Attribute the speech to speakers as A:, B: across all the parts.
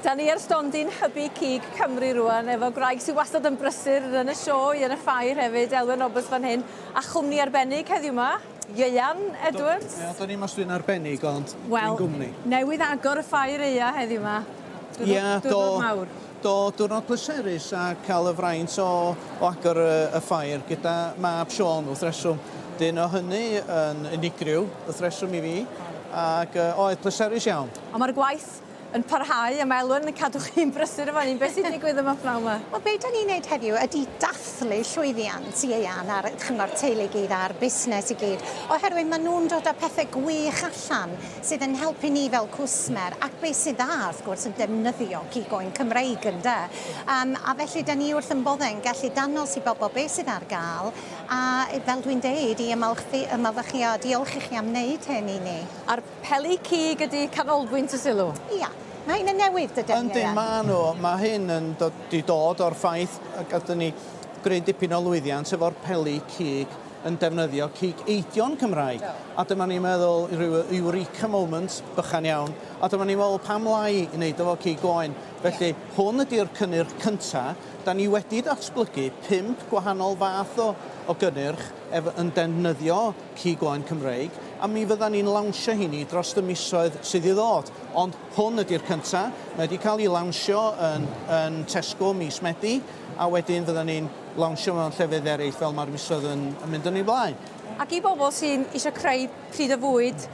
A: Da ni ar stondin hybu cig Cymru rwan efo gwraig sydd wastad yn brysur yn y sioe, yn y ffair hefyd, Elwen Roberts fan hyn, a chwmni arbennig heddiw ma, Ieuan Edwards. Wel, da ni mas dwi'n
B: arbennig ond well, dwi'n gwmni. Newydd agor y
A: ffair eia heddiw ma. Dwi'n yeah, do, mawr. Do, diwrnod
B: pleserus a cael y fraint o, o agor y, y ffair gyda mab Sean wrth reswm. Dyn o hynny yn unigryw wrth reswm i fi ac uh, oedd pleserus iawn. Ond mae'r gwaith Beth?
A: yn parhau a mae Elwen yn cadw chi'n brysur efo hyn. Beth sy'n digwydd yma pnawn yma? Wel, be da ni'n wneud heddiw
C: ydy dathlu llwyddiant ieuan a'r chyngor teulu i gyd a'r busnes i gyd, oherwydd maen nhw'n dod â pethau gwych allan sydd yn helpu ni fel cwsmer, ac be sy'n dda, wrth gwrs, yn defnyddio cig oen Cymreig, ynde? Um, a felly, da ni wrth ymboddau'n gallu dangos i bobl be sydd ar gael, a fel dwi'n deud, i ymolchi, ymolchi a diolch i chi am wneud hyn i ni. A'r Peli
A: cig ydi canolbwynt y sylw. Ia. Mae hyn yn
C: newid dyden ni, Ieuan? Yndi, maen nhw. Mae hyn
B: yn dod, di dod o'r ffaith y gathen ni greu dipyn o lwyddiant efo'r peli cig yn defnyddio cig eidion Cymraeg. Do. A dyma ni'n meddwl, rhyw eureka moment bychan iawn, a dyma ni'n meddwl pam lai i wneud efo cig oen. Felly, Ia. hwn ydi'r cynnyrch cynta. Da ni wedi datblygu pump gwahanol fath o o gynnyrch ef- yn defnyddio Cig Oen Cymreig, a mi fyddan ni'n lawnsio heini dros y misoedd sydd i ddod, ond hwn ydy'r cynta'. Mae wedi cael ei lawnsio yn yn Tesco mis Medi, a wedyn fyddan ni'n lawnsio mewn llefydd ereill fel mae'r misoedd yn yn mynd yn ei flaen. Ac i bobl sy'n
A: isio creu pryd o fwyd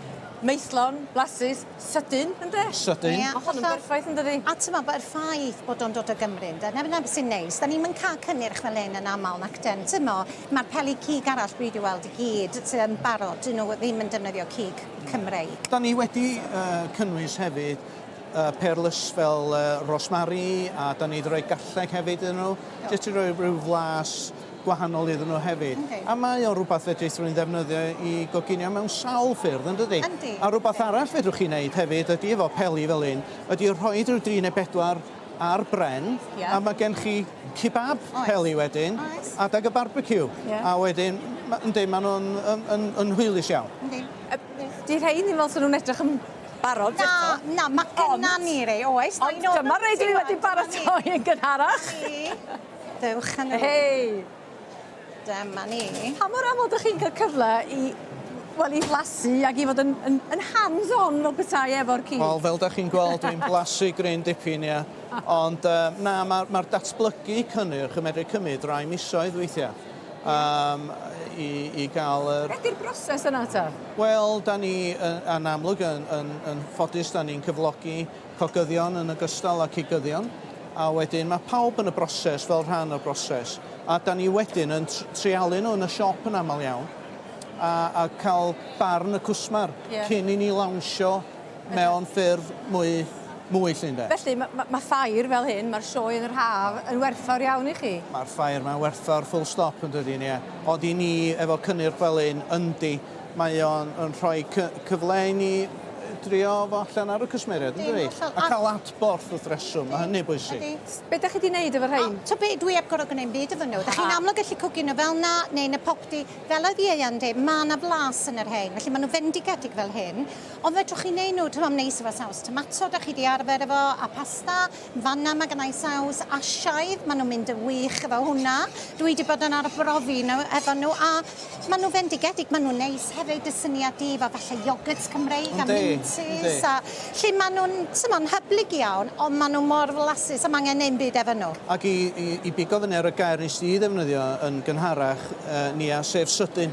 A: maethlon, blasus, sydyn, ynde? Sydyn. Ie, hollol. Ma' hwn yn
B: berffaith
A: yndydi? A t'mo' b- yr ffaith
C: bod o'n dod o Gymru ynde? 'na 'na be' sy'n neis. 'Dan ni'm yn ca'l cynnyrch fel 'yn yn amal, nacden? T'mo'? Mae'r peli cig arall dwi wedi weld i gyd yn barod, dyn nhw ddim yn defnyddio cig Cymreig. Dan ni wedi
B: cynnwys hefyd pearlus fel rosemary a dan ni wedi rhoi garlleg hefyd iddyn nhw, jyst i roi rhyw flas gwahanol iddyn nhw hefyd. A mae o'n rhywbeth fedrith rhywun ddefnyddio i goginio mewn sawl ffyrdd, yn dydi? A rhywbeth arall fedrwch chi wneud hefyd ydy efo peli fel hyn, ydy rhoi rhyw dri neu bedwar ar bren a ma' gen chi kebab peli wedyn adag y barbeciw a wedyn ma' yndi ma' nw'n yn yn yn hwylus iawn. Yndi. Yy 'di
A: rhein ddim fel sa nw'n edrych yn barod eto. Na na ma' gynna
C: ni rei oes. Ond dyma rei dwi
A: wedi baratoi yn gynharach.
C: Dewch â n'w. Hei!
A: Dyma
C: ni. Pa mor aml dych chi'n
A: cael cyfle i wel i flasu ac i fod yn yn yn hands on fel petai efo'r ci? Wel fel dych chi'n gweld
B: dwi'n blasu gryn dipyn ia. Ond yy na ma'r ma'r datblygu cynnyrch yn medru cymryd rai misoedd weithiau yym i i ga'l yr... Be' 'di'r broses yna
A: ta? Wel 'dan ni
B: yy yn amlwg yn yn yn ffodus 'dan ni'n cyflogi Cogyddion yn ogystal â cigyddion, a wedyn mae pawb yn y broses fel rhan o'r broses, a dan ni wedyn yn treialu nhw yn y siop yn aml iawn, a a cael barn y cwsmer... Ie. ...cyn i ni lawnsio mewn ffurf mwy mwy 'lly ynde. Felly ma' ma' ma'
A: ffair fel hyn, ma'r sioe yn yr haf, yn werthfawr iawn i chi? Ma'r ffair 'ma'n
B: werthfawr full stop yn dydi Nia, ond i ni efo Cynnyrch Felin yndi, Mae o'n yn rhoi cy- cyfle i ni drio fo allan ar y cwsmeriaid yndydi? Yn hollol, a- A ca'l adborth wrth reswm, ma' hynny bwysig. Ydi. S- Be' 'dach chi 'di neud
A: efo rhein? O, t'o' be', dwi 'eb gor'o' gneud 'm
C: byd efo nw. 'Dach chi'n amlwg gallu cwgio nw fel 'na, neu yn y popty. Fel oedd Ieuan yn deud, ma' 'na flas yn y rhein, felly ma' nw fendigedig fel hyn. Ond fedrwch chi neud nw, t'mo' am neud sŵp a saws tomato, 'dach chi 'di arfer efo, a pasta. Fanna mae gennai saws Asiaidd, maen nhw'n mynd yn wych efo hwnna. Dwi wedi bod yn arbrofi nhw, efo nhw a maen nhw fendigedig, maen nhw'n neis hefyd, dy syniad di efo falle iogwrt Cymreig a mintys a lle maen nhw'n swnio'n hyblyg iawn ond maen nhw mor flasus a mae angen ddim byd efo nhw. Ac i
B: bigo fyny ar y gair nes di ddefnyddio yn gynharach Nia, sef sydyn.